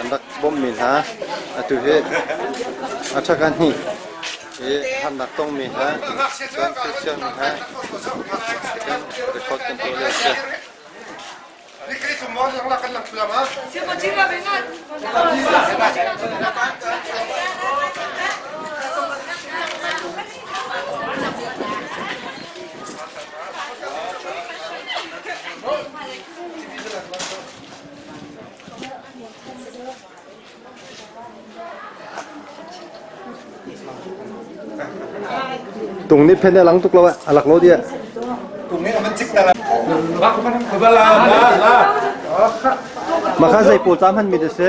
An rak bawmmi hna atu hi a ṭhakhat hnih i harnak tongmi hna cun sersiammi hna in record kan tuah lio a si. Tung nih phen a lang tuk lo a lak lo dia. Tung nih man chik na la. Man khubala la la. Maka zei pol tam han mi de se.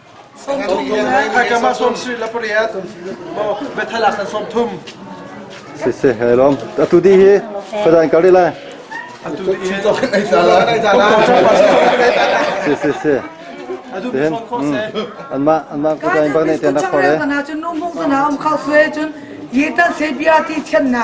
Khaikam ah sawm sarih le pariat maw bethalak san sawm thum siseh he lom atu di hi fadan kar lai atu di to kan ai sala ai sala si si si den an ma an ma kutai bak nei ten nak khore kana chu nu mung kana um khau fe chun ye ta se bia ti chen na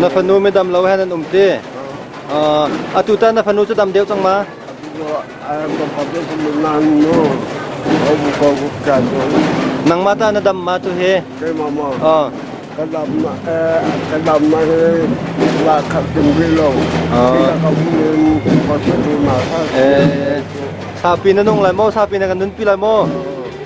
Na fanu midam lo hen an um ti. Uh, atu ta na fanu cu dam deuh cang ma? Nangma ta na dam ma tu hi? Uh. Kan dam na kan dam na hi la khat kim ri lo. Kita ka buin kau tu na. Eh. Sapi na nung lai mo, sapi na kan nun pi lai mo.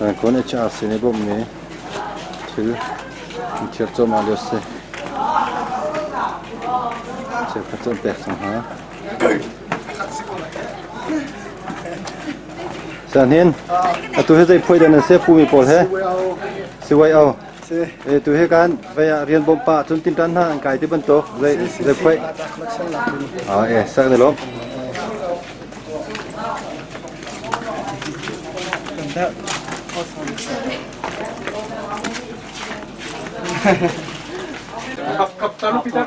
Ngaikonh a sin i bawmhmi thil an thiar cuahmah lio a si. Cheukhat cu an pek cang hna. Siahnin, atu hi zei phuai den an si? Pumi pawl he? Siwai o. Si. E, tu he kan vai ah rian bawm pa cun tim tan hna an kai ti bantuk zei zei khoi. Ah e, sak ne lom. Kap kap tan Peter.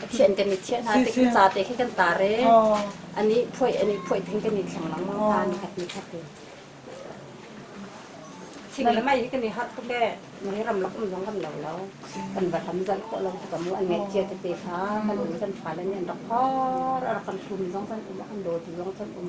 Pathian kan i thiah hna te kan ca te khi kan tare ani phuai ani phuai thing kan i thleng lang mang ta ni khat ni khat thing le mai kan i hat tu le ni ram lak um zong kan lo lo kan va lam zal ko lo ka mu an ngai chia te te kha kan um kan fa le ni rak hor ar kan sum zong kan um kan do ti zong kan um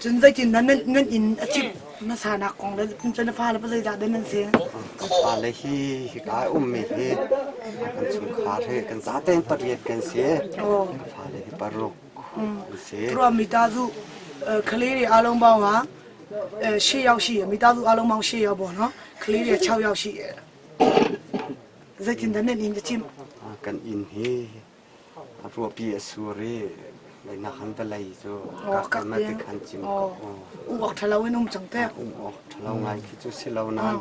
Cun zeitin dah nan inn a cimh hmasanak kong le cun na fale pa zeidah nan si? Fale hi hika i ummi hi kan chungkhar hi kan zaten pariat kan si. Fale hi paruk an si. Ruam mi ta zu khale ri along bao nga she yao shi mi ta zu along bao she yao bo no khale ri chao yao shi zeitin dah nan inn a cimh? Kan inn hi Ruahpi a sur i lainak han balei cu kakam ah khan cim ko. Uak ṭhalo in um cang teh. Um awk ṭhalo ngai khi cu si lo nain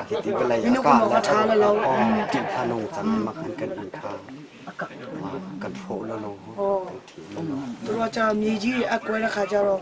hiti balei a kah le ṭih kha nung cang i makhan kan in kha kan hrawh lo lo kan thi lo. Ruaca mi ji a kuai la kha jaro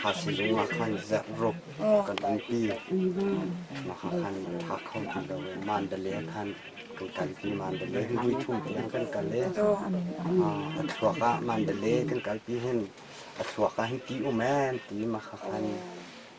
Thaizing zongah khan zerhrup kan umpi. Mahah khan nan hngak kho ti lo i mandalay khan kan kal pi. Mandalay luithum tiang kan kal i a thluak ah mandalay kan kal pi hin a thluak ah hin ti um ee ti mahah khan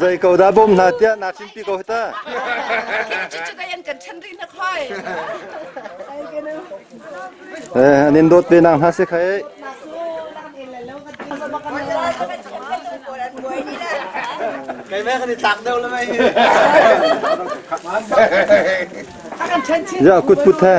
Zei ko dah bawm hna tiah na chim pi ko ta. Eh an in dawt ve nang hna se khai. Kai mai kan i tlak deuh lah mai. Ya kut put he.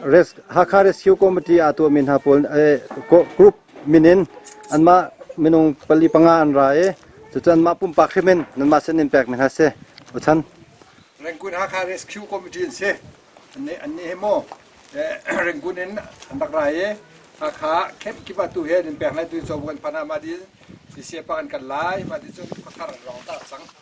Hakha Rescue Committee aa tuahmi hna pawl group min in anmah minung pali panga an ra i cucu anmah pumpak hrim in nanmah sin in pek ning a si. Ochan. Rangoon Hakha Rescue Committee an si. Annih hi maw Rangoon in an rak ra i Hakha Camp Kiva tu he nan pek lai tu cu kan phan ah mah di CCA pa an kal lai mah di cun khuathar an rawng ta cang.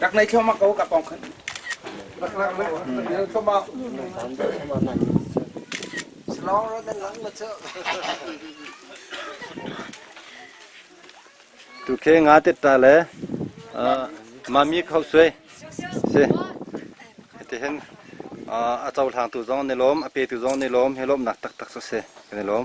Dak nei thoma ko ka pong khan. Slong road and lang ma chu. Tu ke nga te ta le mami khau suai si te hen a chau hlang tu zong ne lom a pe tu zong ne lom he lom nak tak tak so se ne lom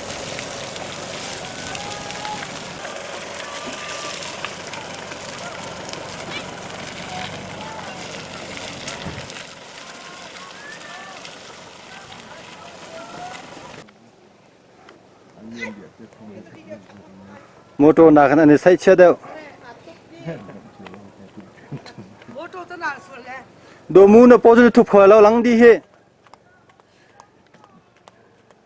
motor na khan ani sai chia deu do mu na po chu thu pha lo lang di he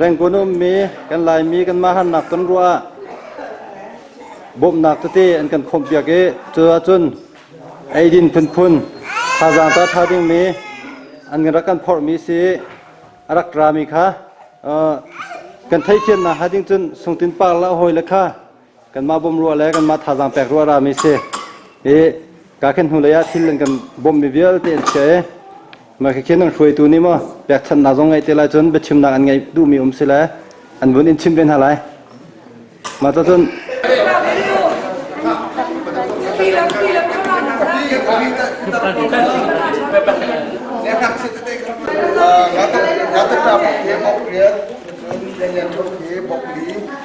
Rengkun a ummi kan Laimi kanmah harnak ton ruah ah bawmhnak tete an kan khawmhpiak i cuahcun eidin phunphun thazaang ta ṭha dingmi an rak kan phorhmi si a rak rami kha kan theithiamnak hnga ding cun sungtin par le a hawi le kha kanmah bawmh ruah le kanmah thazaang pek ruah rami si i kakhin hnulei ah thil an kan bawmhmi vialte an chia i mah khin an hruaitu nih maw pekchanhnak zong ngeih te lai cun biachimnak an ngeih duhmi um si le an vun in chim ve hna lai mah ca cun Ratakrap he bok riat, Lenian Thok he bok li,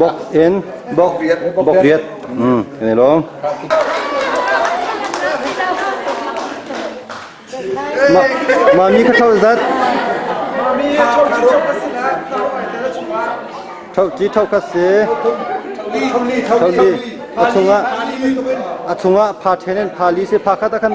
Bok in bok bok riat. Hmm, ini lo. Ma mami ka thau zat. Thau chi thau ka si. Thau li a chunga a chunga pha thenen pha li se pha kha ta khan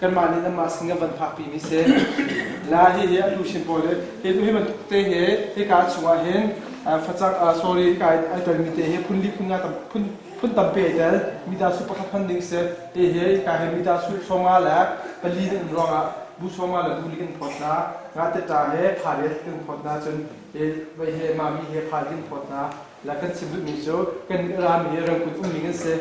kanmah nih nanmah sin kan van phakpi mi si la hi hi a luchin pawl le hi tu hi bantuk te he hika chungah hin facak sorry ka ai tel mi te hi phun li phun nga tam phun phun tampe ai tel mi da su pakhat hman ding si te he hika he mi da su songa le pali in ruangah bu songa le bu li kan phot na nga te ta he pha re kan phot na chun e vai he ma mi he pha kan phot na La kan chim duhmi cu kan ram hi Rangoon umning an si.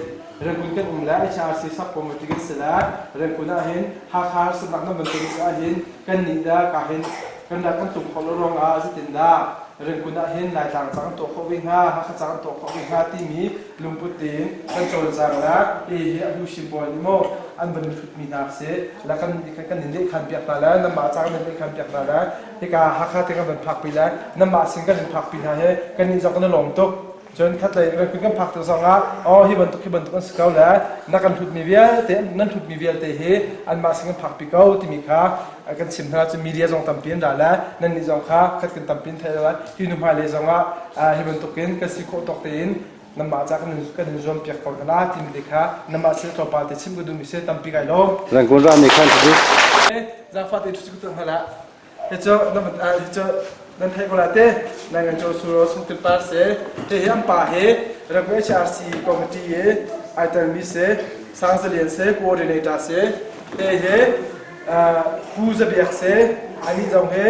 Rangoon kan um le HRC sakpom bantuk an si le Rangoon ahhin Hakha harsamnak nan bantuk ahhin kannih le ka hin kan rat an tlung khawh lo ruangah zeitindah Rangoon ahhin Laitlang cang an tuah khawh ve hnga, Hakha cang an tuah khawh ve hnga timi lungput tein kan cawlcang le kei hi a bu hrimbual nih maw an van i hrutmi hna seh, la kan nih kha kan in lehkhan piak hna le nanmah cang nan lehkhan piak hna le hika Hakha te kan van phakpi lai nanmah sin kan in phakpi hna hi kan nih zong kan i lawm tuk cun khatlei kan kut kan phak tuk zong ah oh hi bantuk hi bantuk an si ko le na kan hlutmi vialte nan hlutmi vialte hi anmah sin kan phakpi ko timi kha kan chim hna cun media zong tampi an ra le nan nih zong kha khat kan tampi an theih lai hi nu hmailei zong ah hi bantuk in kan si khawh tawk tein Nangmah ca kan in zuampiak ko hna la timi te kha nangmah sile tlawmpal te chim ka duhmi se tampi kai lo. Rangkun ra ne khan cu. Zangfa te cu ku hla. He cu hi cu nan thei ko la te nai ngai cho suro sun ti par se he he am pa he Ragwe HRC committee ye ai tel mi se sang zalian se coordinator se he he phu zabiak se ani zong he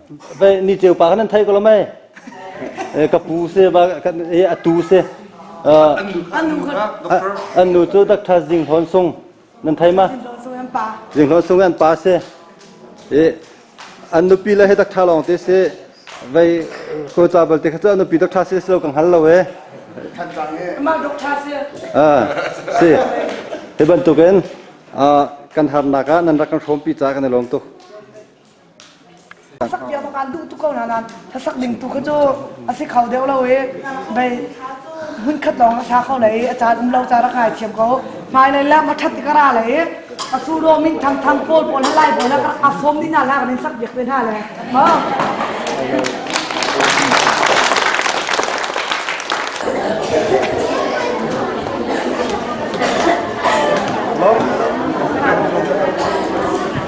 ni ceu pa kan an thai ko lo mai ka pu se ba kan a tu se an nu cu dak tha jing hon sung nan thai ma jing hon sung an pa se an nupi la he dak tha long te se vei ko cha bal te kha an nupi dak tha se lo kan hal lo e ma dok tha se a si he ban tuken kan har naka nan rak kan rom pi cha kan lom tu Hlasak bia bak aan duh tuk ko nain hlasak ding tu kha cu a si kho deuh lo i bei hmunkhat lawng a sa kho le i a caan um lo caan rak ngaithiam ko. Hmai lei lem a ṭhat tikar le i a suro min thangthang pawl pawl halai pawl le rak aa sawm dina la kan in sak biak ve hna le. Ha?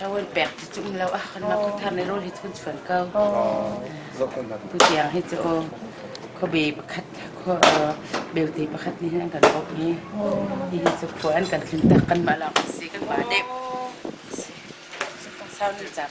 Lo an pek ti tum lo. Ah kan mah khuthar ne rol hi cun chuan ko. Bu tiang hi cu kho be pakhat kho belte pakhat ni an kan bok ni. Hi hi cu khua an kan tlin tak kan mah lawng si kan ba dep. Kong sau ni cham.